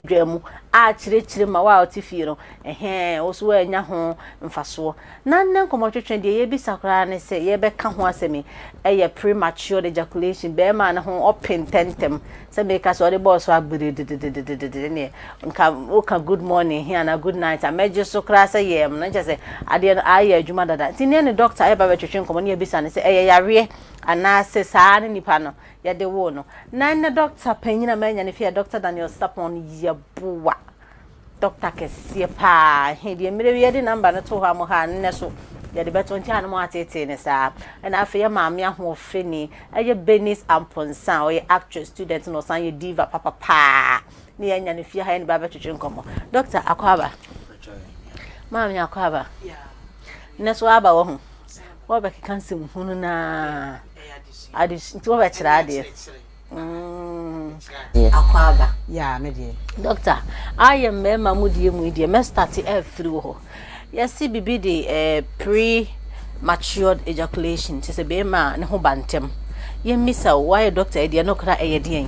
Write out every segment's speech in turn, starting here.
dwaa mu akyerɛkyerɛ ma wo a wote fie no, ɛhɛɛ, wo nso woannya ho mfasoɔ. Na nnɛ nkɔmmɔtwetwe deɛ yɛbisa koraa ne sɛ yɛbɛka ho asɛm yi, ɛyɛ prematured ejaculation, barima no ho ɔpe ntɛmntɛm, sɛ meka sɛ ɔde bɔɔ so a gbirididididididi ne deɛ, nka woka good morning he anaa good night a mɛgye so koraa sɛ yɛɛm no, ne kyerɛ sɛ adeɛ no aayɛ adwuma dada. Nti nnɛ ne dɔkta ɛɛba abɛtwetwe nkɔmmɔ ne yɛabisa no sɛ ɛyɛ yareɛ anaa sɛ saa ara ne nipa no yɛde woo no. Na ɛnnɛ dɔkta panyin a manya no fi yɛ Dɔkta Daniel Sapon Yeboah. Dɔkta kɛseɛ paa. He deɛ mmerɛ wi yɛde number no to hɔ a mo ha a nnɛ so yɛde bɛto nti a na mo ateetee no saa. Ɛna afei yɛ maame ahoɔfɛni ɛyɛ Bernice Amponsah a ɔyɛ actress student na ɔsan yɛ diva papa paa ne yɛanya no fie ha yɛne bɛ abɛtwetwe nkɔmmɔ. Dɔkta akɔ aba. Maame akɔ aba. Nnɛ so aba wahu. Wɔbɛkeka nsɛmhunu no ara. Adesua. Nti wo bɛ kyerɛ adeɛ. Adeɛ. Akwaaba. Yaa me deɛ. Doctor, ayɛ mmarima mu deɛ mu yi deɛ mɛ start afiri wɔ hɔ. Yɛsi bibi de eh, pre matured ejaculation, kyɛ sɛ bɛrima a ne ho ba ntɛm. Yɛmmisa o, woayɛ doctor yi deɛ no kora ɛyɛ deɛn?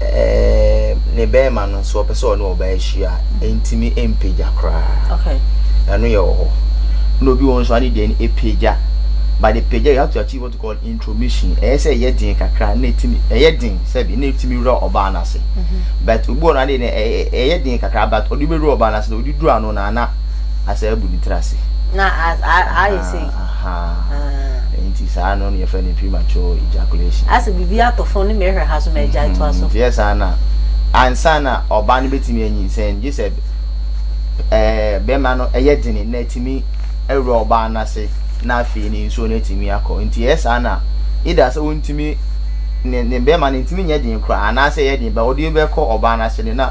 ɛɛ ne bɛrima no nso ɔpɛ sɛ ɔne ɔbaa ahyia ɛntumi mpagya koraa okay ɛno yɛ wɔ hɔ na obi wɔn nso ade deɛ no apagya but the pagya you have to achieve what you call intromission ɛyɛ sɛ ɛyɛ den kakra na ɛtumi ɛyɛ den sɛbi na ɛtumi wura ɔbaa no ase mm-hmm. but obi wɔn ade no ɛyɛ den kakra but ɔde bɛwura ɔbaa no ase na ɔde duru ano na ana asɛ abu ne tiri ase na ayɛ sɛ Haa nti saa no na yɛfrɛ no premature ejaculation. Asɛ biribi atɔ fam ne mehwɛ ha so magyae toa so. Nti yɛ saa na ansa na ɔbaa no bɛtumi anyinsɛn gye sɛ bɛma no yɛ dene na atumi awura ɔbaa no ase na afei no nsuo no atumi akɔ nti ɛyɛ saa na either sɛ ɔntumi ne bɛma no ntumi nyɛ den koraa anaasɛ ɛyɛ den but ɔde bɛkɔ ɔbaa no ase no na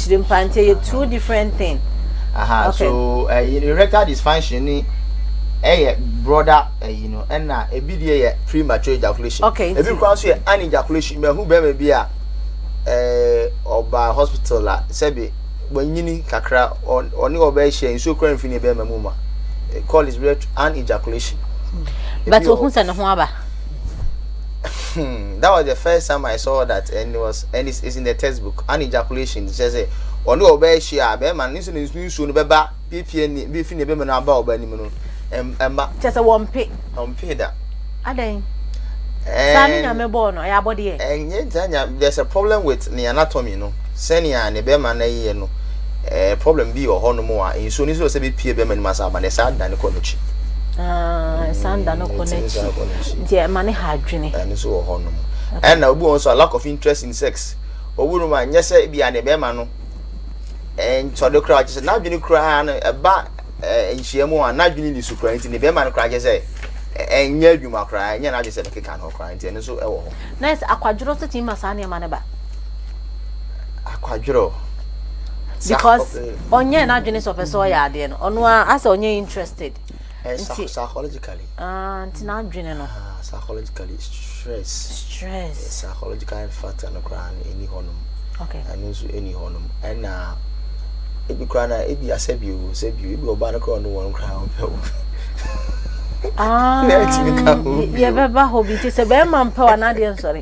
Kyirempa nti ɛyɛ two different thing. Aha okay. so ɛyi eh, no erectile dysfunction ni ɛyɛ broader ɛyi no ɛna ebi deɛ yɛ premature ejaculation. Okay, ebi kura nso yɛ an ejaculation bɛ ho bɛrima bi a ɛɛ ɔba hospital a sɛbi wɔnyini kakra ɔne ɔbɛ hyɛ nsuo kura nfin ne bɛrima mu ma call is an ejaculation. but ohun sɛ ne ho aba. that was the first time i saw that and it was and it's, it's in the textbook an ejaculation kyerɛ sɛ ɔne ɔbaa ahyia a bɛrima no nso ne nsuo no bɛba piepie ne bɛfi ne bɛma no aba ɔbaa anim no ɛmma kyerɛ sɛ wɔmpe ɔmpe da adɛn saa ne nyame bɔɔ no ɛyɛ abɔdeɛ ɛnyɛ saa nyame there's a problem with ne anatomy no Sɛnea ne bɛrima no yɛ no, ɛɛ problem bi wɔ hɔnom a nsuo no soro sɛ bɛpie bɛrima no mu asa aba no, ɛsan da ne kɔ n'akyi. ɛsan da no kɔ n'akyi nti ɛma ne ha adwene. ɛno nso wɔ hɔnom. ɛna obi wɔ nso a lack of interest in sex obi nom a nyɛ sɛ ebia ne bɛrima no nsɔde koraa kyɛ sɛ n'adwene koraa no ɛba nhyia mu a n'adwene ni so koraa nti ne bɛrima no koraa kyɛ sɛ ɛnyɛ adwuma koraa ɛnyɛ n'adwene sɛ bɛkeka no koraa nti ɛno nso ɛwɔ hɔ. nurse akwadworɔ nso tumi ma saa nneɛma no ba. akwadwerɛ because ɔnyɛ n'adwene sɛ ɔpɛ sɛ ɔyɛ adeɛ no ɔno a asɛ ɔnyɛ interested eh, nti psychologically ah, nti n'adwene no ah, psychologically stress stress eh, psychological factor no koraa no ɛni hɔ nom okay ɛno nso ɛni hɔ nom ɛna ebi koraa na ebi asɛ bi o sɛ bi o ebi ɔbaa no koraa ɔno wɔn koraa ɔpɛ o ah yɛbɛba hɔ bi nti sɛ bɛrima mpɛ wa n'adeɛ nsɔre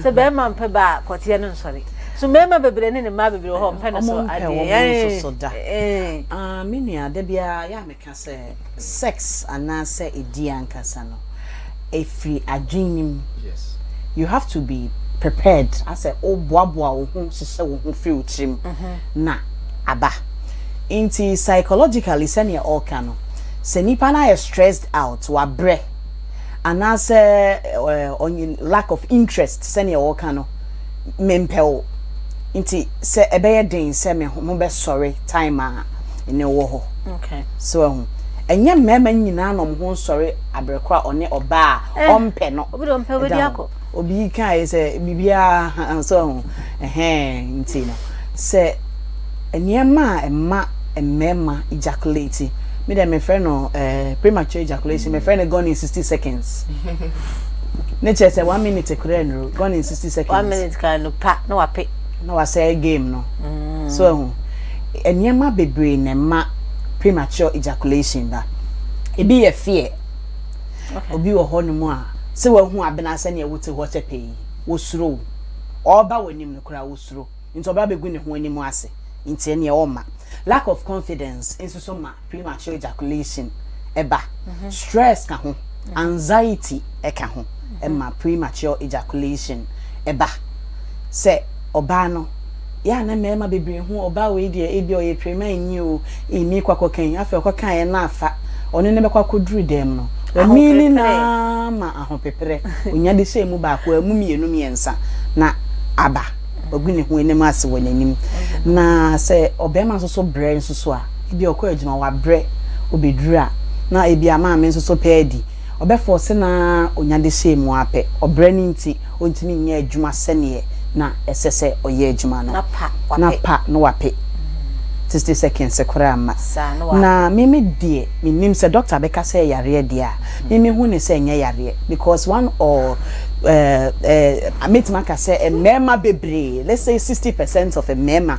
sɛ bɛrima mpɛ ba a kɔteɛ no nsɔre so mmarima bebree ne ne mmaa bebree wɔ hɔ mpɛ no so adeɛ wɔn nso so da ah me nua da biara yɛ a meka sɛ sex anaasɛ ɛdi ankasa no ɛfiri adwenem you have to be prepared asɛ woboaboa wo ho hyehyɛ wo ho firi wo tirim na aba nti psychologically sɛdeɛ ɔreka no sɛ nipa no ayɛ stressed out wabrɛ anaasɛ ɔnye lack of interest sɛnea wɔka no mempɛ wo nti sɛ ɛbɛyɛ den sɛ me ho bɛsɔre time a ne wɔ hɔ so ahu ɛnyɛ mmarima nyinaa na ɔmo ho nsɔre aberekora ɔne ɔbaa a ɔmpɛ no obi de ɔmpɛ obi de akɔ obi kae sɛ biribiara so ho ɛhɛn nti no sɛ nneɛma a ɛma mmarima ejaculate me dɛ mefrɛ no eh, premature ejaculation mefrɛ no gone in 60 seconds ne kyerɛ sɛ one minute korɛ nuro gone in 60 seconds one minute kan no pa na wape na wasɛe game no mm. so ahu nneɛma bebree na ɛma premature ejaculation ba ebi yɛ fear Obi wɔ hɔnom a, sɛ wahu abena sɛnea wote hɔ kyɛ pɛ yi, osuro wo. Ɔreba w'anim no koraa osuro, nti ɔba begu ne ho anim ase, nti ɛneɛ ɔmma. Lack of confidence nso so ma premature ejaculation ba. Stress ka ho, anxiety ka ho ma premature ejaculation ba. Sɛ. ɔbaa no. Yɛ a na mmarima bebree hu ɔbaa wei deɛ ebia ɔyɛ pirimanyi o, ee meekɔ akɔka yi. Afei ɔkɔkaeɛ no afa, ɔne no bɛkɔ akɔduru dɛm no, wamini no ara ma ahopeprɛ, ɔnya de hyɛɛ mu baako, wamu mmienu mmiɛnsa na aba, wagu ne ho anim ase wɔ n'anim. Na sɛ ɔbarima nso so brɛ nso so a, ebia ɔkɔ adwuma, wabrɛ, ɔbɛduru a na ebia maame nso so pɛ adi. Ɔbɛfɔɔse no ara ɔnya dehyɛɛ mu ara pɛ. Ɔbrɛ no nti, ɔntumi nyɛ adwuma sɛdeɛ na ɛsɛ sɛ ɔyɛ adwuma no. Na pa na wape. Sixty seconds koraa mma. Na me me deɛ, mennim, sɛ dɔkta bɛka sɛ yareɛ deɛ a, me me hu no sɛ ɛnyɛ yareɛ. Because one or eh eh mɛtumi aka sɛ mmarima bebree, let's say sixty percent of mmarima,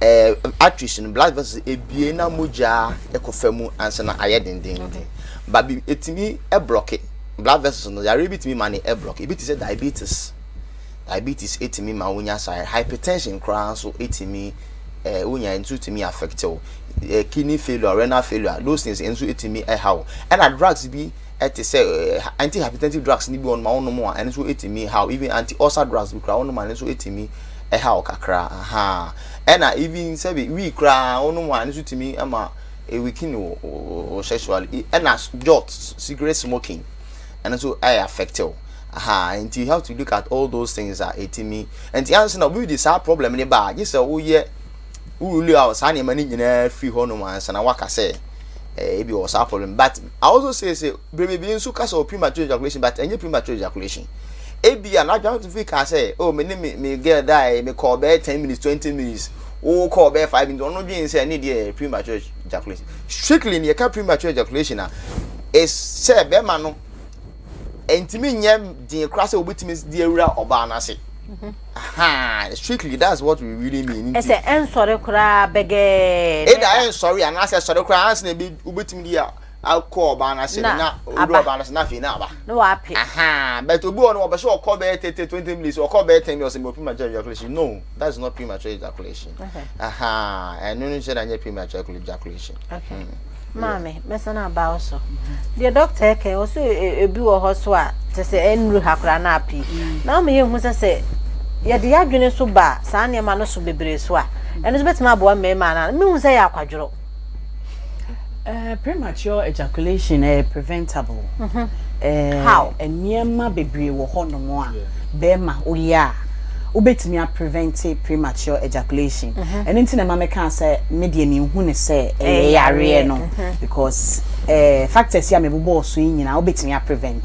ɛɛ arteries no blood vessels ebie na mogya kɔ fa mu ansa na ayɛ dendenden ba bi etumi blɔke blood vessels no yareɛ bi tumi ma ne blɔke ebi te sɛ diabetes diabetes etumi ma wonya saa hypertension koraa nso etumi ɛɛ wonya nso etumi affect wo ɛɛ kidney failure renal failure those things nso etumi ɛha wo ɛna drugs bi. ɛte sɛ antihypertensive drugs no bi wɔnom a wonom a ɛno nso ɛtumi haw even anti ulcer drugs bi koraa wonom a ɛno nso ɛtumi ɛhaw kakra ahaa ɛna even sɛbi wii koraa wonom a ɛno nso tumi ɛma ɛwikini wo wo sexual ɛna jot cigarette smoking ɛno nso ɛyɛ affective ahaa nti you have to look at all those things a ɛtumi nti ansa na obi de saa problem ne ba a gye sɛ woyɛ worule out saa nneɛma no nyinaa firi hɔnom ansa na waka sɛ eh, ebi wɔ saa problem but i also say sɛ bere bebree nso ka sɛ wɔ premature ejaculation but ɛnyɛ premature ejaculation ebi a n'adwene to fi kaa sɛ oh me ne me me girl die me kɔɔ bɛyɛ ten minutes twenty minutes wo kɔɔ bɛyɛ five minutes ɔno dwen sɛ ne deɛ premature ejaculation strictly ne yɛka premature ejaculation a ɛsɛ bɛrima no ɛntumi nyɛ den koraa sɛ wobɛtumi de awura ɔbaa no ase mm-hmm. strictly that's what we really mean ɛsɛ ɛnsɔre koraa bɛgɛɛ ɛda ɛnsɔre anaasɛ ɛsɔre koraa ansa na wobɛtumi de akɔ ɔbaa no ase na owura ɔbaa no ase na afei na aba na wape but obi wɔ no wɔbɛhyɛ ɔkɔ bɛyɛ tete twenty minutes ɔkɔ bɛyɛ ten minutes ɔsɛ mɔpi ma gya ejaculation no That's not premature ejaculation. Okay. Aha, and no say that premature ejaculation. Okay. Mm. Maame, mɛsan aba wo so. Deɛ dɔkta ɛkɛ, ɔso ebi wɔ hɔ so a, kyɛ sɛ ɛnuru ha koraa na api. Mm. Na ɔmo yɛ hu sɛ sɛ yɛde yɛadwene so ba saa nneɛma no so bebree so a, ɛno nso bɛtumi aboa mmarima anaa. Mehu sɛ yɛ akwadworɔ. Eh, premature ejaculation ɛyɛ eh, preventable. Mm -hmm. eh, How? Nneɛma bebree wɔ hɔnom a bɛrima woyɛ a wobɛtumi a prevent premature ejaculation. Mm-hmm. Ɛno nti na ɛma meka sɛ me deɛ menhu ne sɛ eh, ɛyɛ eh, yareɛ no mm-hmm. because eh, factors yi a mebobɔɔ so yi nyinaa wobɛtumi a prevent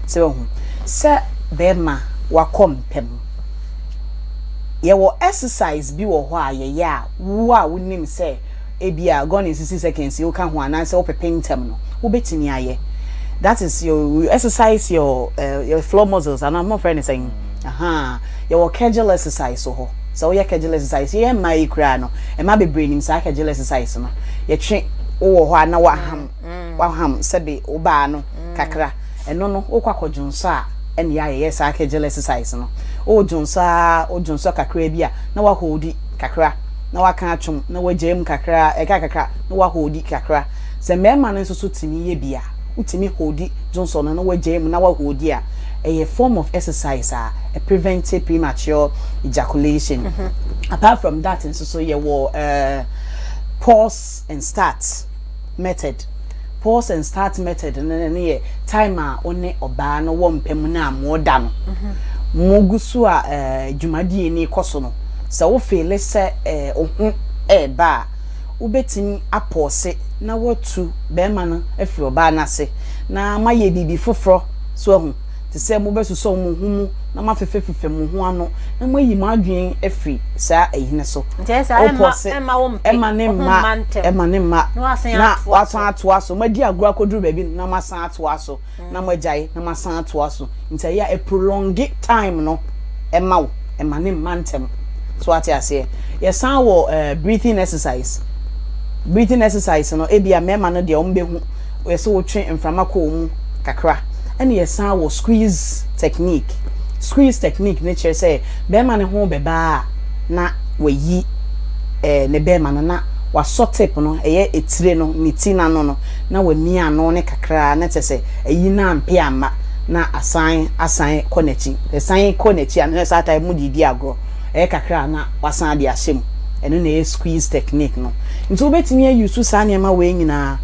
sɛ wahu sɛ bɛrima wakɔ mpam yɛwɔ exercise bi wɔ hɔ a yɛyɛ a Wo a wunim sɛ ebia gone in sixty seconds yi woka ho anaasɛ wopepem ntɛm no, wubetumi ayɛ. That is your you exercise your uh, your floor muscles anaa mofrɛ no sɛn aha yɛwɔ kegel exercise wɔ hɔ sɛ woyɛ kegel exercise yɛyɛ mmaa yi koraa no mmaa bebree nim saa kegel exercise no yɛtwe wowɔ hɔ a na waham waham sɛde wobaa no kakra ɛno no wokɔ akɔ dwonsɔ a ɛne yɛayɛyɛ saa kegel exercise no wodwonsɔ a wodwonsɔ kakra bi a na wahoodi kakra na waka atwom na wagyae mu kakra ɛka kakra na wahoodi kakra sɛ mmarima no nso so tumi yɛ bi a wotumi hoodi dwonsɔ no na wagyae mu na wahoodi a ɛyɛ form of exercise a ɛprevent premature ejaculation mm-hmm. apart from that nso so yɛwɔ uh, pause and start method. Pause and start method no no yɛ time a wo ne ɔbaa no wɔ mpa mu no a moda no. Mogu so a eh, dwumadie no rekɔ so no, sɛ wo feele sɛ eh, wo ho reba a, wobɛtumi apɔɔse na woatu bɛrima no afiri ɔbaa no ase na moayɛ biribi foforɔ so ahu. te sɛ mobɛsosɔ mo ho mu na moafefɛfefɛ mo ho ano na moayi mo adwene afiri saa ahina so. Opɔ se ɛmma ne mma, ɛmma ne mma, na wɔasan atoa so. Moadi agorɔ akɔduru baabi na moasan atoa so, na moagyae na moasan atoa so. Nti ɛyɛ a ɛprolonge time no ma wo, ɛmma ne mma ntɛm. So woate aseɛ? Yɛsan wɔ ɛɛ breathing exercise. Breathing exercise no, ebia mmarima no deɛ wɔbɛhu Wɔyɛ sɛ wotwe mframa kɔ wɔn mu kakra ɛna yɛsan wɔ squeeze technique. Squeeze technique no kyerɛ sɛ bɛɛma no ho bɛba a na wayi ɛɛ ne bɛɛma no na wasɔ tip no ɛyɛ etire no ne ti n'ano no na wamia ano no kakra na kyerɛ sɛ ayi no ampɛ amma na asan asan kɔ n'akyi. Sɛ ɛsan kɔ n'akyi a na kyerɛ sɛ saa time no mo de redi agorɔ. Ɛyɛ kakra a na wasan de ahyɛ mu. Ɛno na ɛyɛ squeeze technique no. Nti wobɛtumi a use saa nneɛma wei nyinaa.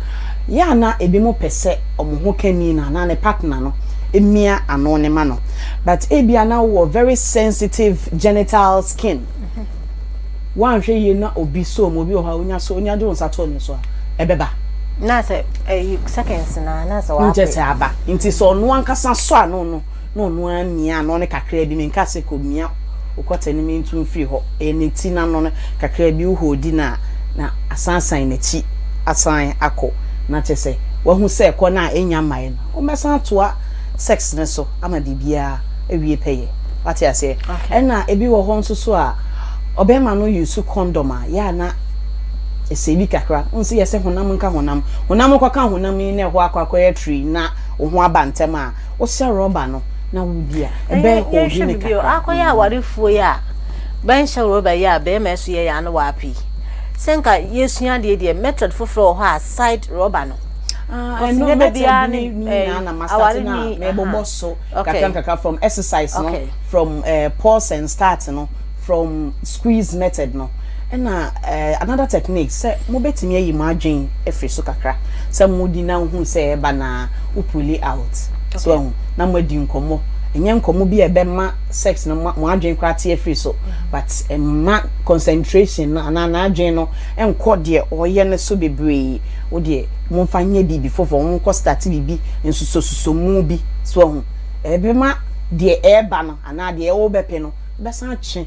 Yɛ a na ebinom pɛ sɛ wɔn ho ka ni no anaa ne partner no mia ano no ma no. But ebi a na wowɔ very sensitive genital skin, woanhwɛ yie na obi sɔ mu, obi wɔ hɔ a wonya sɔ, wonya de wo nsa to ne so a, ɛbɛba. Na sɛ ɛyi seconds no ara na sɛ w'ape. Nkyɛ sɛ aba. Nti sɛ ɔno ankasa sɔ ano no, na ɔno ara mia ano no kakraa bi, menkaa sɛ kɔmia wo kɔtɛ no mentu mfiri hɔ, ɛyɛ ne ti no ano no kakraa bi, wo hoodi no a, na asan san n'akyi asan akɔ, na kyerɛ sɛ wahu sɛ ɛkɔ no a ɛnnya mmaeɛ no, wommɛsan atoa sex no so ama biribiara awie pɛyɛ. Woate aseɛ? Ɛna ebi wɔ hɔ nso so a, ɔbarima no use condom a, yɛ a na ɛsɛe bi kakra, wohu sɛ yɛse honam nka honam, honam kɔka honam yi na ɛhɔ akɔ akɔyɛ trii na wo ho aba ntɛm a, Wosɛ rɔba no na wodi a, ɛbɛn hɔ a odi no kakra. Akɔyɛ awarefoɔ yi a bɛnhyɛ rɔba yi a bɛɛma ɛso yɛ yaa ne waape yi. Sɛ nka yɛsua adeɛ deɛ method foforɔ wɔ hɔ a side rɔba no. Ah, ɛno method ni nyinaa na masate na mɛbobɔ so kakra kakra from exercise no from pause and start no. from squeeze method no ɛna another technique sɛ mobɛtumi ayi mo adwen afiri so kakra sɛ modi na wohu sɛ ɛba na wo pull it out so okay. ahu na moadi nkɔmmɔ ɛnyɛ nkɔmmɔ bi a ɛbɛma sex no mo adwen koraa te afiri so mm-hmm. but ɛma concentration no anaa n'adwen no nkɔ deɛ ɔyɛ no so bebree wo deɛ momfa nyɛ biribi foforɔ monkɔ start biribi nsusosuso mu bi so ahu ɛbɛma deɛ ɛreba no anaa deɛ ɛwɔ bɛpɛ no bɛsan atwe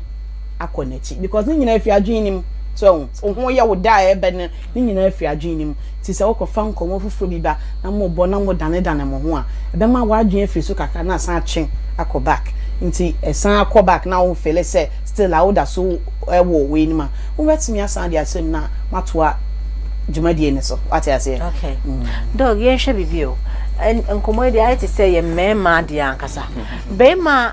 akɔ n'akyi because ne nyinaa fi adwene no mu so ɛho so ho yɛ wo da a ɛbɛ no ne nyinaa fi adwene no mu ti sɛ wokɔfa nkɔmmɔ foforɔ bi ba na mo bɔ na mo danedane mo ho a ɛbɛma w'adwene afiri so kakra na asan atwe akɔ back nti ɛsan akɔ back na wo fele sɛ still a woda so ɛwɔ wei no ma wobɛtumi asan de ahyɛ mu na matoa dwumadie no so wate aseɛ okay mm. dog yɛnhwɛ biribi o nkɔmmɔ yi deɛ ayɛ te sɛ yɛ mmarima adeɛ ankasa bɛrima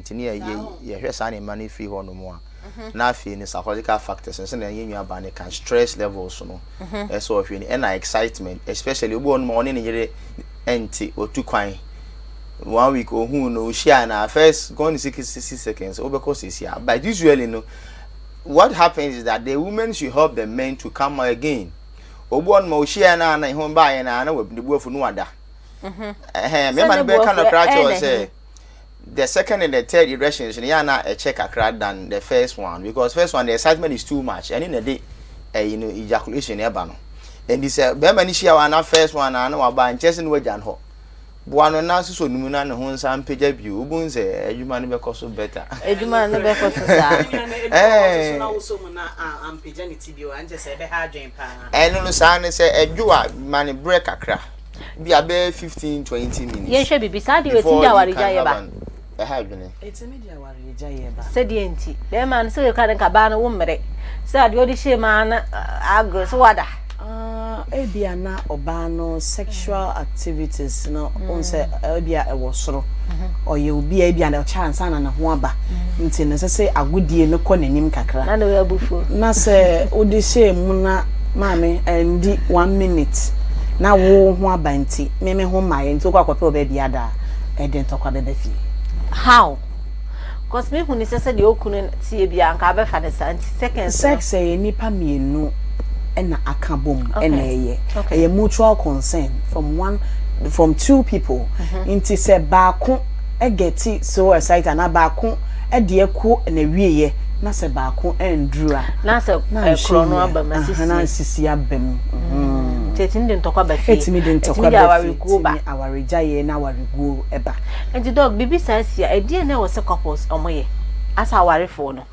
Nti ne yɛ yɛ yɛhwɛ saa nneɛma no firi hɔ nom a, na afei no psychological factors no sɛdeɛ yɛn nua baa no kan stress levels no ɛsɛ sɛ ɔhwɛ ni ɛna excitement especially obi wɔ nom a ɔne ne yere ɛnte ɔtu kwan one week ohun no ohyia na first gone sixty seconds wobɛkɔ sisi a but usually no what happens is that the women should help the men to come again obi wɔ nom a ohyia na na ɛho baayɛ na na wabuafu no wada ɛhɛn mmarima no bɛka no koraa kyerɛ sɛ the second and the third erections no yɛ a na ɛkyɛ kakra than the first one because first one the excitement is too much ɛne na ɛde ɛyi no ejaculation no ɛba no ɛnti sɛ bɛrima no hyia wa na first one na na waba nkyɛ sɛ na wagya no hɔ boa no na sosɔ no mu na ne ho nsa mpagya bio wobɛhu sɛ adwuma no bɛkɔ so better adwuma no bɛkɔ so saa ɛno no saa ne sɛ ɛdwo a ma ne berɛ kakra Bi a bɛyɛ fifteen twenty minutes. Yɛn hwɛ biribi. Saa deɛ etumi de awaregyaeɛ ba. Ɛha adwene. Etumi de awaregyaeɛ ba. Sɛdeɛ nti, bɛrima no sɛ yɛka ne nka baa no wo mmere. Sɛ adeɛ ɔde hyɛ mu ara no agorɔ so wada. Ah, ebi a na ɔbaa no sexual activities no, wɔn sɛ Ebia ɛwɔ soro. Ɔyɛ obi a ebia ɔkyɛ ansa na ne ho aba, nti no ɛsɛ sɛ agodie no kɔ n'anim kakra. Na ne ho abu fo. Na sɛ wode hyɛɛ mu na maame andi one minute na wo ho aba nti, me me ho mmaeɛ nti wokɔ akɔpɛ wɔ baabi ada a, ɛde ntɔkwa bɛba fie. How? Cos me hu no sɛ sɛdeɛ okunu no teɛ biaa nka wobɛfa no saa nti seconds no. Sex yɛ nnipa mmienu na aka bom na ɛyɛ. Ɛyɛ mutual concern from one from two people nti sɛ baako gɛti so excited anaa baako deɛ kɔ n'awieɛ na sɛ baako anduru a na sɛ ɛkorɔ no aba mu asisi na asisi aba mu nti ɛtumi de ntɔkwa ba fie ɛtumi de ntɔkwa ba fie ɛtumi de awarekuo ba ɛtumi de awaregyaeɛ na awareguo ba. Enti Doug, biribi saa si a, ɛdeɛn na ɛwɔ sɛ couples a wɔyɛ, asɛ awarefoɔ no?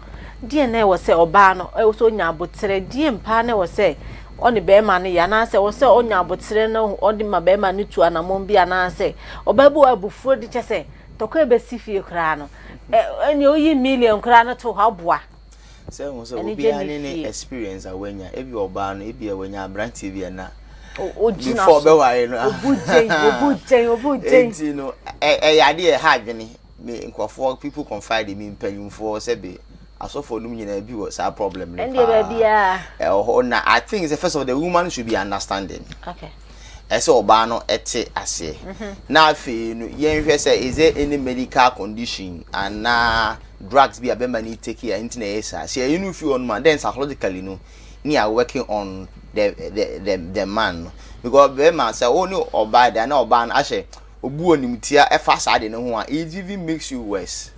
Deɛn na ɛwɔ sɛ ɔbaa no, ɛwɔ sɛ ɔnya aboterɛ? Deɛn paa na ɛwɔ sɛ ɔne bɛrima no yɛ? Anaasɛ ɛwɔ sɛ ɔnya aboterɛ na ɔde ma bɛrima no tu anammɔn bi? Anaasɛ ɔbaa bi wɔ abufuo de kyɛ sɛ tɔkwa ɛbɛsi fie koraa no, ɛneɛ woyi million koraa no to hɔ aboa? Sɛ ehu sɛ obiara ne ne experience a wanya ebi ɔbaa no ebi a wanya aberanteɛ bi a na before ɔbɛware no obu gyɛn obu gyɛn obu gyɛn eti no ɛyɛ adeɛ ɛha adwene me nkurɔfoɔ people confide in me mpanyinfoɔ sɛ be asɔfoɔ nom nyinaa bi wɔ saa problem no paa ɛwɔ hɔ na I think sɛ first of all the woman should be understanding okay Ɛsɛ sɛ ɔbaa no te aseɛ. Na afei no, yɛnhwɛ sɛ is there any medical condition anaa drugs bi a bɛma no take a nti na ɛyɛ saa. Sɛ yɛyi no fi hɔ nom a, then psychologically no ne yɛ working on the the the the man no because bɛma sɛ wo ne ɔbaa de a na ɔbaa no ahyɛ obu animtia ɛfa saa ade no ho a it even makes you worse.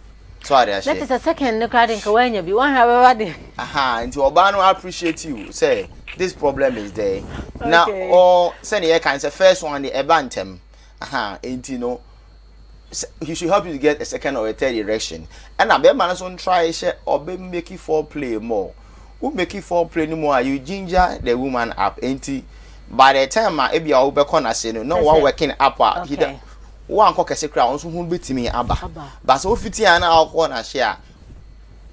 So ade aseɛ. Na te sɛ second no koraa de nka wanya bi, wahwɛ abɛba de. Aha, nti ɔbaa no appreciate you sɛ this problem is there. Na ɔ sɛdeɛ yɛka no sɛ first one de ɛba ntɛm. Aha, nti no he should help you to get a second or a third erection. Ɛna bɛrima no nso ntry hyɛ ɔbɛ make foreplay more. wo make foreplay no mu a you ginger the woman up nti by the time a ebi a wobɛkɔ n'ase no na wa working up a he da wo ankɔ kɛse koraa ɔno nso ho betumi aba ba sɛ ofiti a na akɔ n'ase a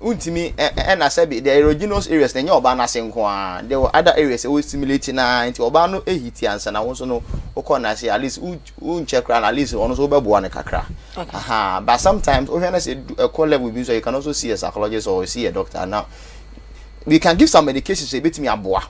wontumi ɛna sɛbi the erogenous areas na ɛnyɛ ɔbaa n'ase nko ara the other areas ɛwɔ stimulate na nti ɔbaa no ehiti ansa na wo nso no wokɔ n'ase at least Wonkyɛ koraa no at least ɔno nso wobɛboa no kakra. Aha, but sometimes wohwɛ na sɛ ɛkɔ level bi nso you can also see a psychologist or see a doctor now. We can give some medications sɛ ebetumi aboa.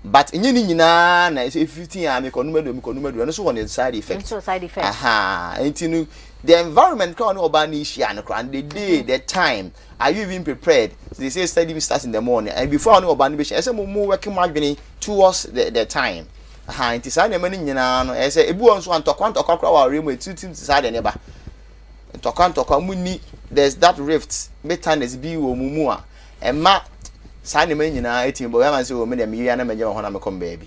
But ɛnyɛ ne nyinaa na ɛsɛ fifteen a mekɔ num aduonu mekɔ num aduonu ɛno nso wɔ ne side effect. Nso side effect. Aha, nti no the environment koraa ne ɔbaa ne hyia no koraa the day the time. Are you even prepared? They say studying starts in the morning and before ano ɔba no bɛhyɛ ɛsɛ mo mo work mo adwene towards the the time ha nti saa nneɛma no nyinaa no ɛsɛ ebi wɔ nso antɔkwa ntɔkwa koraa wɔ awareɛ mu atiritim te saa deɛ ne ba ntɔkwa ntɔkwa mu ni there's that rift bitterness bi wɔ mu mu a ɛma saa nneɛma nyinaa ɛtumi bɔ bɛma sɛ wɔ me deɛ meyɛ na mɛgya me ho na mekɔ me baabi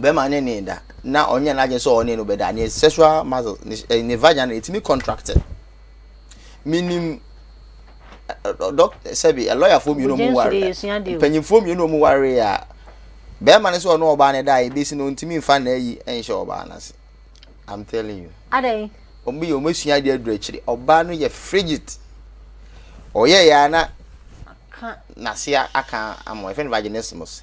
bɛrima ne ne da na ɔnyɛ n'adwene sɛ ɔne no bɛda ne sexual muscle ne eh, ne vagina etumi contract minim eh, eh, dɔk sɛbi lɔyafoɔ mmienu ɔmo ware mpanyinfoɔ mmienu ɔmo ware a bɛrima ne sɛ ɔne ɔbaa ne da a ebesi na ɔntumi nfa na ayi nhyɛ ɔbaa n'ase i'm telling you. adan. ɔmo yɛ ɔmo esua adeɛ aduru akyire ɔbaa no yɛ frigid ɔyɛ yɛ ana n'ase aka ama ɛfɛ no vaginismus.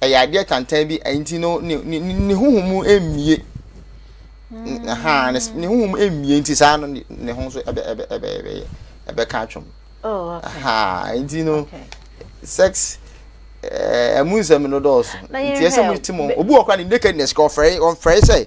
ɛyɛ adeɛ tantan bi nti no ne ne ne huhu mu mmie mm. ha ne ne huhu mu mmie nti saa no ne ho nso ɛbɛ ɛbɛ ɛbɛ ɛbɛ ɛbɛka atwam oh, ha nti no sex ɛmu eh, nsɛm no dɔɔso nti ɛsɛ mo ti mo obi wɔ kora ne nakedness kɔ ɔfrɛ ɔfrɛ sɛ.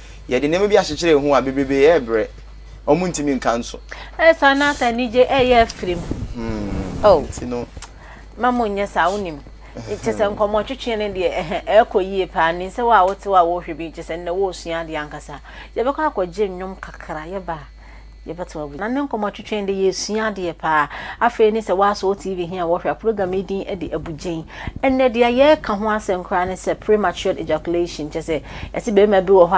Yɛde nneɛma bi akyekyere yɛn ho a, bebrebe yɛrebrɛ. Wɔntumi nka nso. Ɛyɛ saa na sɛ anigye reyɛ afiri mu. Oh, Nti no, ma mo nyɛ saa, wonim. Kyɛ sɛ nkɔmmɔtwetwe no deɛ, ɛhɛ, ɛrekɔ yie paa. Nim sɛ wo a wote hɔ a worehwɛ bi, kyɛ sɛ nnɛ woresua adeɛ ankasa. Yɛbɛkɔ akɔgye nnwom kakra, yɛba a, Yɛbɛto agu. Na ne nkɔmmɔ twetwɛn de, yɛresua adeɛ paa. Afei ne sɛ woasɔɔ TV he a wɔhwɛ a, program yi din de Abugyen. Ɛnnɛ, deɛ yɛreka ho asɛm koraa ne sɛ prematured ejaculation, kyerɛ sɛ, yɛse barima bi wɔ hɔ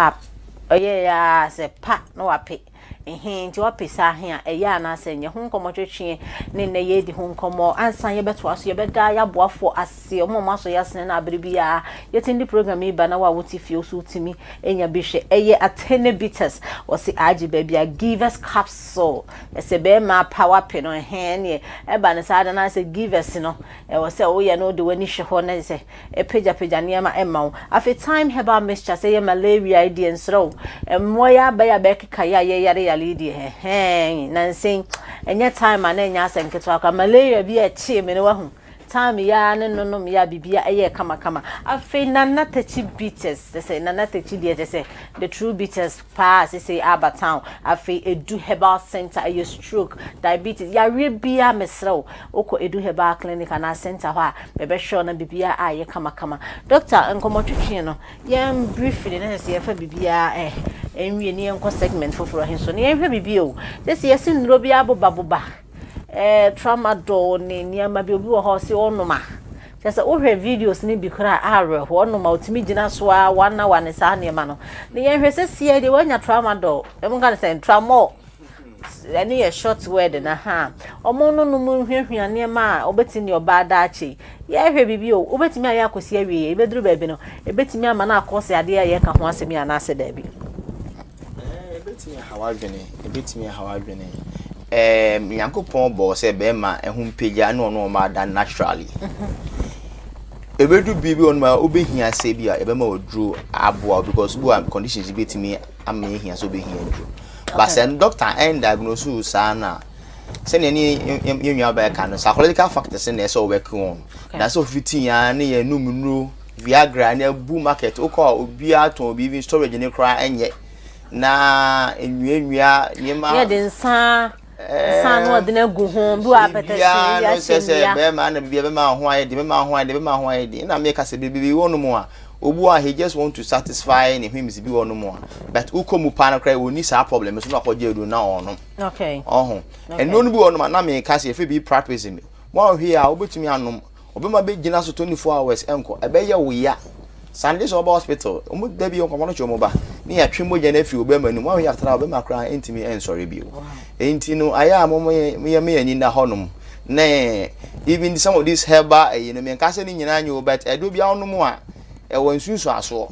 a ɔyɛɛ ara a sɛ pa na wape. Ehe, nti wape saa he a, ɛyɛ anaasɛ ɛnyɛ? Ho nkɔmmɔ twetweɛ ne nnɛ yɛredi ho nkɔmmɔ. Ansa yɛbɛtoa so, yɛbɛda yɛaboafoɔ ase. kɛse. Ɔmo a ɔmo asɔ yasene no abere biaa yɛtumi de program yi ba na wo a wote fie nso wotumi nya bi hwɛ. Ɛyɛ Atene Bitters wɔse agye baabi a Givers Capsule ɛsɛ bɛɛma power pe no ɛhee ɛneɛ ɛba no saa da no ara sɛ Givers no ɛwɔ sɛ woyɛ no wode w'ani hwɛ hɔ na gye sɛ ɛpagya pagya nneɛma ɛma wo. Afei Thyme Herbal Mixture sɛ ɛyɛ Malaria yi deɛ nsrɛ wo mmoa yi aba yi a bɛɛkeka yɛ a yɛyare yare yi deɛ hɛhɛɛn nansa yi ɛnyɛ Thyme a na ɛnyɛ asɛm ketewa koraa. Malaria bi a ɛkyee me no wahu Time yi ara ne nonom yɛ a biribiara ɛyɛɛ kamakama. Afei Nana Takyi Beaters kyɛ sɛ Nana Takyi deɛ kyɛ sɛ the true Beaters paa a seisei aba town. Afei Edu Herbal Centre ɛyɛ stroke, diabetes, yareɛ biara mesrɛ wo wokɔ Edu Herbal Clinic anaa Centre hɔ a bɛbɛhwɛ wo na biribiara ayɛ kamakama. Doctor nkɔmmɔtwetwe no yɛn briefly na kyɛ sɛ yɛmfa biribiara ɛɛ ɛnwie na yɛnkɔ segment foforɔ he so na yɛnhwɛ biribi o. Seisei yɛse nnuro biara bobaboba. Tramadol ne nneɛma bi obi wɔ hɔ a ɔse ɔnom a kyerɛ sɛ wohwɛ videos no bi koraa a awerɛhoɔ ɔnom a ɔtumi gyina so a one hour ne saa nneɛma no na yɛnhwɛ sɛ siɛ deɛ woanya tramadol ɛmu ka ne sɛ tramol ɛno yɛ short word na ha ɔmo no nom nhwiahwia nneɛma a ɔbɛtumi deɛ ɔbaa daakye yɛhwɛ biribi o wobɛtumi ayɛ akɔsi awie yɛ ebɛduru baabi no ebɛtumi ama no akɔ sɛ adeɛ a yɛka ho asɛm yɛ anaasɛ daabi Ɛbɛtumi ahaw adwene, ɛbɛtumi ahaw adwene. Ɛɛm, Nyankopɔn bɔɔ sɛ bɛrima ɛho mpagya ne ɔno ɔma ada naturally. Ɛbɛdu biribi ɔno a wobɛhia sɛ bi a ɛbɛma ɔduro aboa wo because bi a conditions bi bɛtumi ama ɛhia sɛ wobɛhia duro. Ba sɛ doctor ɛn diagnose wo saa na sɛnea ne yɛnwia bɛka no psychological factors na ɛsɛ ɔwɛke wɔn. Na sɛ ɔfiti ya ne yɛ num nnuro Viagra no abu market. Wokɔ a obiara tɔn bi even storage no koraa ɛnyɛ. Na nnuannua nneɛma. Yɛ de nsa nsa no ɔde no agu ho bi wɔ apɛtɛsi bi ahyɛ mu. Sɛ sɛ bɛrima na biribi bɛma ho ayɛ de bɛma ho ayɛ de bɛma ho ayɛ de. Na me ka sɛ biribi wɔ no mu a obu a he just want to satisfy ne whims bi wɔ no mu a but wokɔ mu paa no koraa wɔnni saa problem so na akɔgye aduro na ɔnom. Okay. Ɔho. Ɛno no bi wɔ no ma na me ka sɛ efe bi practice mi. Wɔn ahwe a wobɛtumi anom. Ɔbɛma bɛgyina so 24 hours nkɔ. Ɛbɛyɛ wo ya. Sunday sɛ wɔba hospital, wɔn da bi nkorɔfoɔ no twe wɔn ba ne yɛatwe mogya no afiri ɔbɛrima no mu. Wɔn yɛatra ɔbɛrima koraa ntumi nsɔre bio. Enti no ayɛ a mom yɛ me ani nna hɔ nom ne even some of these herbal ɛyi no menka sɛ ne nyinaa nyɛ o but ɛdoɔ biara wonom a ɛwɔ nsunsuasoɔ.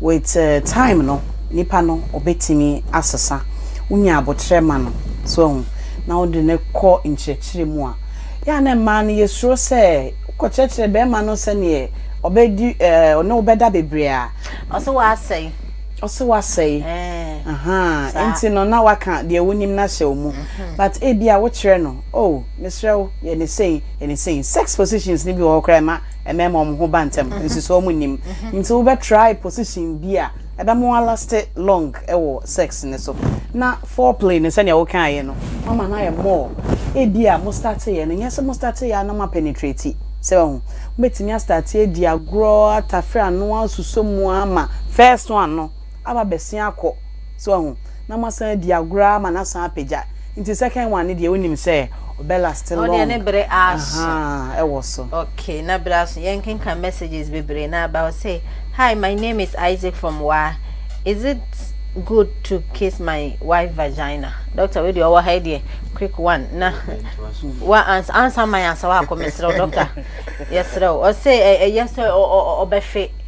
With time no nipa no ɔbɛtumi asesa, wonya aboterɛ ma no so ahu na wode no kɔ nkyerɛkyerɛ mu a, yɛ a na mmaa no yɛsuro sɛ wokɔkyerɛkyerɛ bɛrima no sɛdeɛ ɔbɛdi ɔne wo bɛda bebree a, ɔse wasɛe, ɔse wasɛe, ahaa, nti no na waka deɛ wonim no ahyɛ wo mu, but ebia wokyerɛ no, oh mesrɛ wo yɛ ne sei, yɛ ne sei, sex positions no bi wɔ hɔ koraa ɛma. mmarima wɔn ho ba ntɛm nsusuo wɔn nim nti wo bɛ try position bi a ɛbɛ mo alast long ɛwɔ sex ne so na foreplay ne sɛnea wo kan yɛ no mama na yɛ more ebi a mo start yɛ no nyɛ sɛ mo start yɛ a na mo apenetrate sɛ wɔn ho mo bɛtumi a start yɛ di agorɔ atafere ano a suso mu ama first one no. aba abɛsen akɔ, so wahu, na moasan adi agorɔ ara ma no asan apagya, nti second one no deɛ wonim sɛ ɔbɛ laste long, ɔdeɛ ne bere aso, ahaa, ɛwɔ so. Ok, na bere aso, yɛnkenkan messages bebree na aba hɔ, say Hi, my name is Isaac from waa, is it good to kiss my wife vagina, doctor wei deɛ ɔwɔ ha yi deɛ quick one na wa ansa, ansa man ansa wakɔ, mesrɛ wo doctor, yɛsrɛ wo, ɔse ɛyɛ sɛ ɔbɛhwe,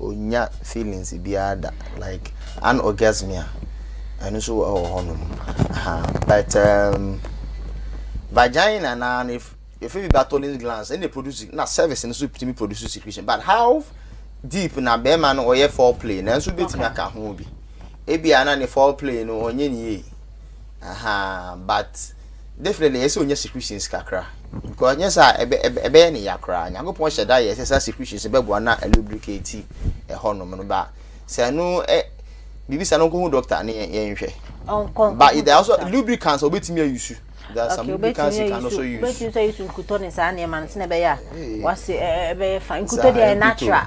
Onnya feelings biara da like anorgasmia ɛno nso ɛwɔ hɔ nom but um, vagina na no efe bi Bartholin's glands ɛna produce na service no so tumi produce secretion but how deep na bɛrima no ɔyɛ foreplay na nso betumi aka ho bi ebi a na ne foreplay no ɔnyɛ ne yie aha but. definitely ɛyɛ sɛ onya secretions kakra because nyɛ saa ɛbɛyɛ ne ya koraa nyankopɔn hyɛ da yɛ sɛ saa secretions bɛboa na lubricate ɛhɔ nom no ba sɛ ɛno ɛ biribi sa no nkɔhu doctor ne yɛnhwɛ but there also lubricants obetumi ayusu there are some lubricants you can also use obetumi ayusu nkutɔ ne saa nneɛma no sɛ ɛbɛyɛ a wase ɛbɛyɛ fa nkutɔ deɛ natural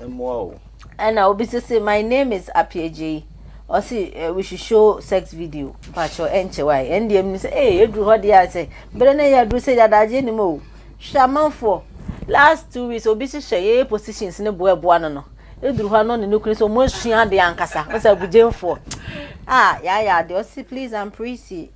mmoa o. Ɛna obi nso se my name is Apiagyei ɔse we should show sex video pakyɛw ɛnkyɛ wa yɛn deɛ mu sɛ ee eduru hɔ deɛ a sɛ bere ne yɛ aduru sɛ yɛ adagye ne mu o hwɛ amanfoɔ last two weeks obi hyehyɛ yɛyɛ positions ne boa ɛboa no no eduru hɔ no ne ne kunu sɛ wɔn asua adeɛ ankasa ɔsɛ abugyemfoɔ a yɛayɛ adeɛ ɔse please I'm pretty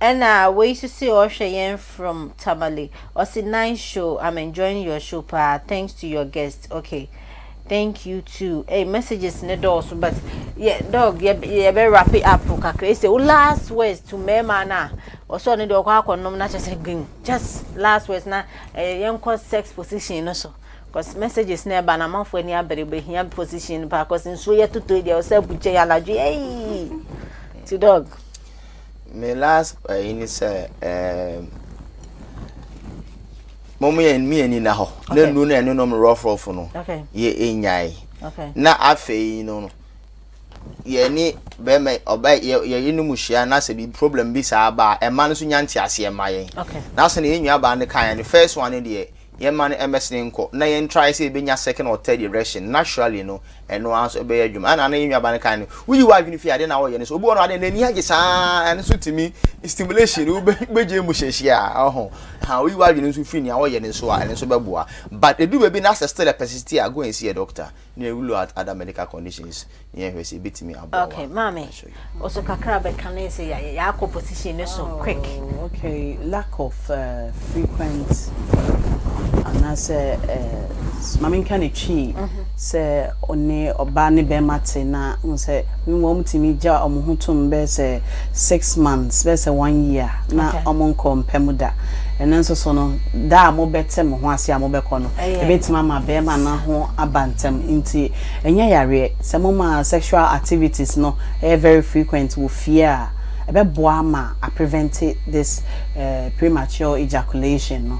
Ɛna wei nso se ɔhwɛ yɛn from Tamale ɔse nice show I'm enjoying your show paa thanks to your guest ok thank you too ei messages ne dɔɔso but yɛ dog yɛbɛ wrap it up kakra ese wo last words to mɛɛma no a ɔsɛ ɔno deɛ ɔkɔ akɔnom na kyɛ sɛ geng just last words na ɛyɛ eh, yɛnkɔ sex position no so cause messages na ɛba na amanfoɔ ani abere bɛhia position no paa cause nsuo yɛ totoi deɛ ɔsɛ abukyɛ yɛ anadwo ei ti dog Me last ɛyi ne sɛ ɛɛm mo mo yɛ mi yɛ ni na hɔ na nuru na ɛne nom rɔfrɔfo no yɛ enyae na afei no no yɛ ne bɛrima ɔbɛ yɛ yɛ yi ne mu hyia na sɛ bi problem bi saa ba ɛma no so nya nte aseɛ ma yɛn na sɛ na yɛn nua baa ne kan yɛn first one deɛ. Yɛmma no mmɛsene nkɔ na yɛn try sɛ yɛbɛnya second or third erection naturally no ɛno ara nso ɛbɛyɛ adwuma ɛna na yɛn nuaba no kan no woyi w'adwene fie adeɛ na wɔyɛ no nso obi wɔ no adeɛ n'ani agye saa ɛno nso tumi stimulation no wobɛgye mu hyɛhyia ɔho ha woyi w'adwene nso firi nea wɔyɛ no nso a ɛno nso bɛboa but ɛdu baabi na sɛ still a persist a go and see a doctor ne look at other medical conditions na yɛhwɛ sɛ ebetumi aboa wa. Okay, maame, also kakra bɛka ne sɛ yɛ yɛakɔ position ne so quick. Oh, okay, lack of uh, frequent anaasɛ uh, maame nka ne twi mm-hmm. sɛ ɔne ɔbaa ne bɛrima te na n sɛ wɔn tumi gya wɔn ho tom bɛyɛ sɛ six months bɛyɛ sɛ one year na wɔn nkɔ mpɛ mu da ɛno nso so no da a mobɛte mo ho ase a mobɛkɔ no Ebetumi ama barima no ho aba ntɛm nti ɛnyɛ yareɛ. Sɛ moma sexual activities no yɛ very frequent wɔ fie a, ɛbɛboa ama a prevente this premature ejaculation no.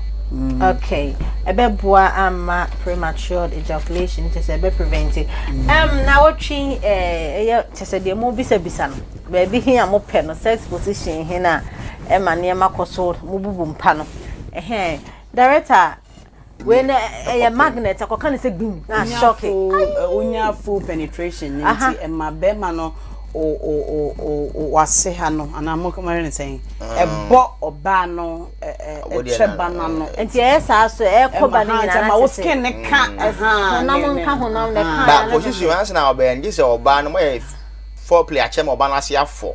Okay, ɛbɛboa ama premature ejaculation no kyerɛ sɛ ɛbɛ prevente. Ɛm nawɔtwe ɛyɛ kyerɛ sɛ deɛ mo bisa bisa no, baabi he a mo pɛ no, sex position he no a ɛma nneɛma kɔ so, mo bubu mpa no, ɛhɛɛ. Director. wei na ɛyɛ magnet akɔka ne sɛ gbim na asɔke wonya full penetration ne nti ɛma bɛrima no wase ha no anaa mokɔmɔre ne sɛn ɛbɔ ɔbaa no ɛkyɛ ba no ano nti ɛyɛ saa so ɛkɔ ba no nyinaa ma wo skin ne ka honam nka honam ne ka ba position ansa na ɔbɛn gye sɛ ɔbaa no moyɛ foreplay akyɛ ma ɔbaa no ase afɔ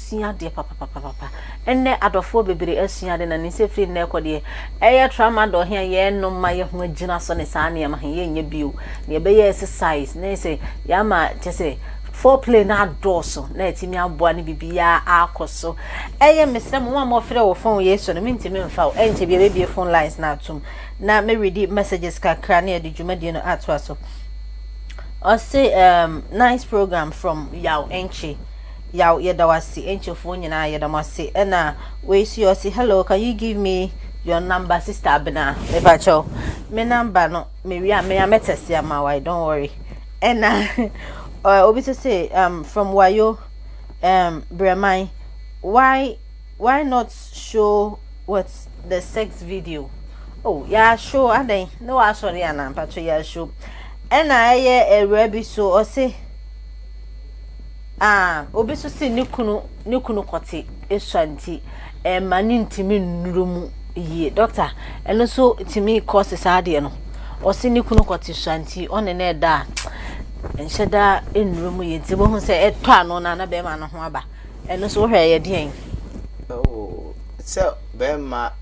sua adeɛ papapapapa ɛnɛ adɔfoɔ bebree asua ade na ninsɛ firi nnɛ ɛkɔ deɛ ɛyɛ tramadol he a yɛnom ma yɛ ho agyina so ne saa nneɛma he yɛnyɛ bio na yɛbɛyɛ exercise na sɛ yɛama kyɛ sɛ foreplay no adɔɔso na atumi aboa ne bibiaa akɔ so ɛyɛ mesrɛ mo ma mɔfrɛ wɔ phone yei so no mentumi mfa wo ɛnkyɛ bia bɛbie phone lines no atom na mɛredi messages kakra ne yɛde dwumadie no atoa so ɔse um, nice program from yaw ɛnkye Yaw yɛda wo ase Enche foɔ nyinaa yɛda mo ase ɛna wei nso yɛ ɔse hello can you give me your number sister abena mepa kyɛw me number no me wi a me a mɛtɛse ama wai don't worry ɛna uh, obi nso se um, from wayo um, breman why why not show what the sex video oh yɛ show adɛn ne waasɔre anaa mpakyɛ yɛ show ɛna ɛyɛ awura bi so ɔse A Obi nso se ne kunu ne kunu kɔte esua nti ɛmma no ntumi nnuru mu yie. Doctor, ɛno nso tumi kɔse saa adeɛ no? Ɔse ne kunu kɔte sua nti ɔne no ɛda a nhyɛ da nnuru mu yie nti bohu sɛ ɛtɔ ano na na bɛrima no ho aba. Ɛno nso wohwɛ ɛyɛ deɛn? Oh, sɛ bɛrima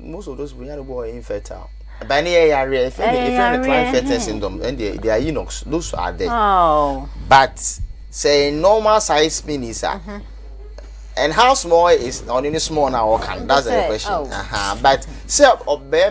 most of those people yàrá bɔ infertile ɛbɛn ni yɛ yàrá yɛ fɛn mi efɛn mi Klinefelter syndrome ɛn deɛ they are eunuchs those are there oh. but sɛ normal size penis a. Mm-hmm. And how small is only small now or can that's the question. Oh. Uh-huh. But say a bear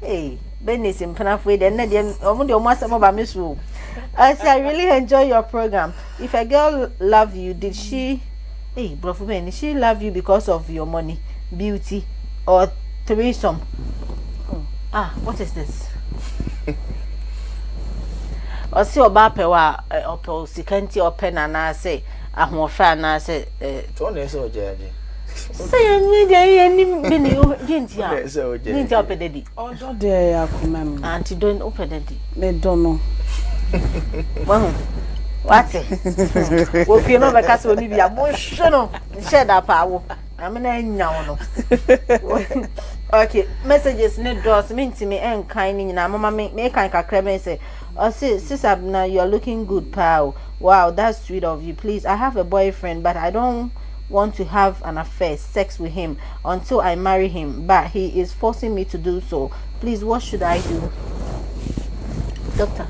Hey, Bernice Mpenafoe, then na deɛ ɔmo deɛ ɔmo asɛm ɔba me so o. I say I really enjoy your program. If a girl love you, did she? Hey, brofo bɛn, did she love you because of your money, beauty, or threesome? Oh, ah, what is this? ɔsi ɔbaa pɛ wa ɔpɛ sika nti ɔpɛ na anaasɛ ahoɔfɛ anaasɛ. tɔn na ɛsɛ ɔgya agye. sɛ yɛnyɛ deɛ yɛnim de ne deɛ nti a deɛ nti a wopɛ dadi ɔdɔ deɛ ɛyɛ akoma mu anti dɔ wopɛ dadi medɔ no wahu wate wɔpie no bɛka sɛ ɔne bi a monhwɛ no nhyɛ da paa wo ame na anya wo no okay messages ne dɔs mentimi ɛnkan ne nyinaa moma me mekan kakra bɛn sɛ Ɔse sisabena you're looking good paa o wow that's sweet of you please I have a boyfriend but I don't want to have an affair, sex, with him until I marry him but he is forcing me to do so please what should I do doctor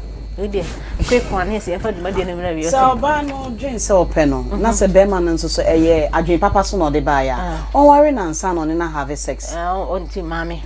deɛ quick one ne sɛ yɛfa dwumadie no mmerɛ wieɛ sɛ ɔbaa no dwen sɛ ɔpɛ no mhm. na sɛ bɛrima no nso so ɛyɛ adwen papa so na ɔde baeɛ a ah. ɔnware no ansa na ɔne no have sex ah, ɔnti maame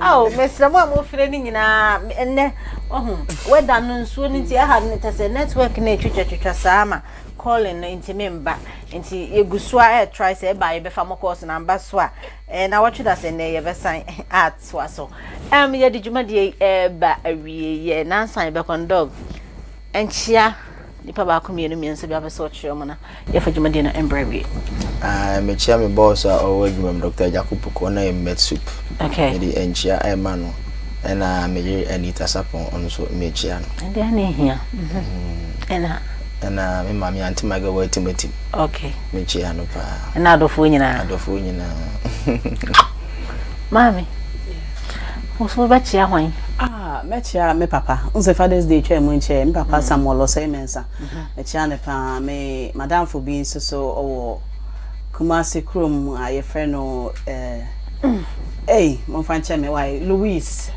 ao mesrɛ mo a mofrɛ no nyinaa ɛnɛ ɔho wɛda no nsuo no nti ɛha no kyɛ sɛ network no ɛtwitwatwitwa saa ma calling no nti memba nti yɛgu so a ɛtrae sɛ ɛba yɛbɛfa mo calls na mba so a na wɔtwe da sɛ nnɛ yɛbɛsan atoa so um, yɛde dwumadeɛ ɛba awieɛ nansa yɛbɛkɔndɔg Nkyia nipa baako mmienu mmiɛnsa bi a ɔpɛ sɛ ɔkyerɛ mu na yɛfa dwumadie no mbrɛ awie. Ah, mekyia me boss a ɔwɔ adwuma mu Dr. Agyako Poko na yɛ Met Soup. Okay. Mede nkyia ɛma no. Ɛna me yere Anita Sapon ɔno nso mekyia no. Ɛdeɛ ne hia. Mm-hmm. Ɛna. Ɛna me maame Auntie Maga wɔ atimatim. Okay. Mekyia no paa. Ɛna adɔfoɔ nyinaa. Adɔfoɔ nyinaa. Maame. Wo so wobɛkyea hwan? Ah, mɛkyea me papa. Wohu sɛ Father's Day twaa mu nkyɛɛ, me papa Samuel Osei Mensah, mɛkyea no pa ara. Me madamfo bi nso so wɔ Kumasi kurom a yɛfrɛ no eh, ei, momfa nkyɛ me wae, Louise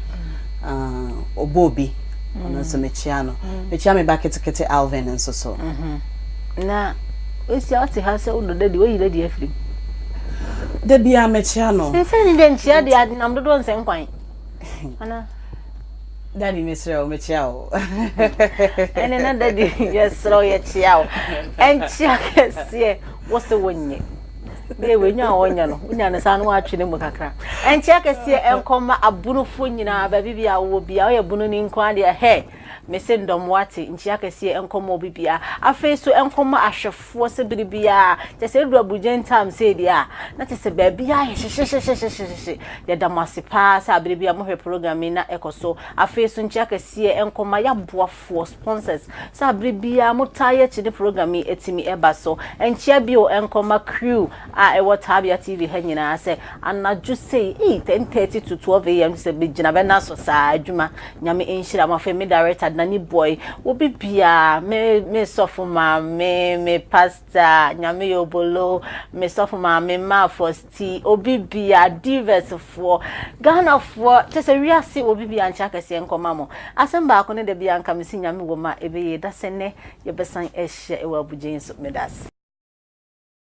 ah, Oboobi, ɔno nso mɛkyea no. Mɛkyea me ba ketekete Alvin nso so. Na. Woehyia ɔtse ha sɛ wo dɔ dɛ deɛ oyi n'adi afiri mu. Da biara mekyea no. Nsɛm ni dɛ nkyea deɛ ade nam dodoɔ nsɛ nkwan. Anaa. Daddy mesrɛ wo mekyea wo. Ɛne na daddy yɛsrɛ wo yɛkyea wo. Ɛnkyea kɛseɛ wo se wonyɛ. Deɛ wei nya a ɔnyɛ no wonya no saa no woatwe ne mu kakra. Ɛnkyea kɛseɛ ɛnkɔma abonofoɔ nyinaa baabi bia wowɔ bia woyɛ bono ni nko ara deɛ hɛ. Mese ndɔm wɔatse nkyia kɛseɛ nkɔmɔ obibia afei so nkɔmɔ ahwɛfoɔ sɛ bere biara kyɛsɛ eduru aburugyen time sei deɛ a na kyɛsɛ baabiara ayɛ hyehyehyehyehyehye yɛda mo ase paa sɛ abere biara mohwɛ program yi na ɛkɔ so afei so nkyia kɛseɛ nkɔmɔ yaboafoɔ sponsors sɛ abere biara motaa yɛ kyene program yi atumi ɛba so nkyia bio nkɔmɔ crew a ɛwɔ Tabia TV ha nyinaa sɛ anadwo sei ei ten thirty to twelve AM no sɛ megyina bɛna so saa adwuma Nyame nhyira mo afei me director Danny boy wɔ bibiaa me me sɔfo maame me pastor Nyame yɛ obolo me sɔfo maame ma fosti obibia divas foɔ Ghana foɔ kyɛsɛ wiase wɔ bibiaa nkyɛ akɛseɛ nkɔma mo asɛm baako ne da biaa nka mese Nyame wɔ mu a ɛbɛyie dasɛ nɛ yɛbɛsan ahyia ɛwɔ abugyen so medase.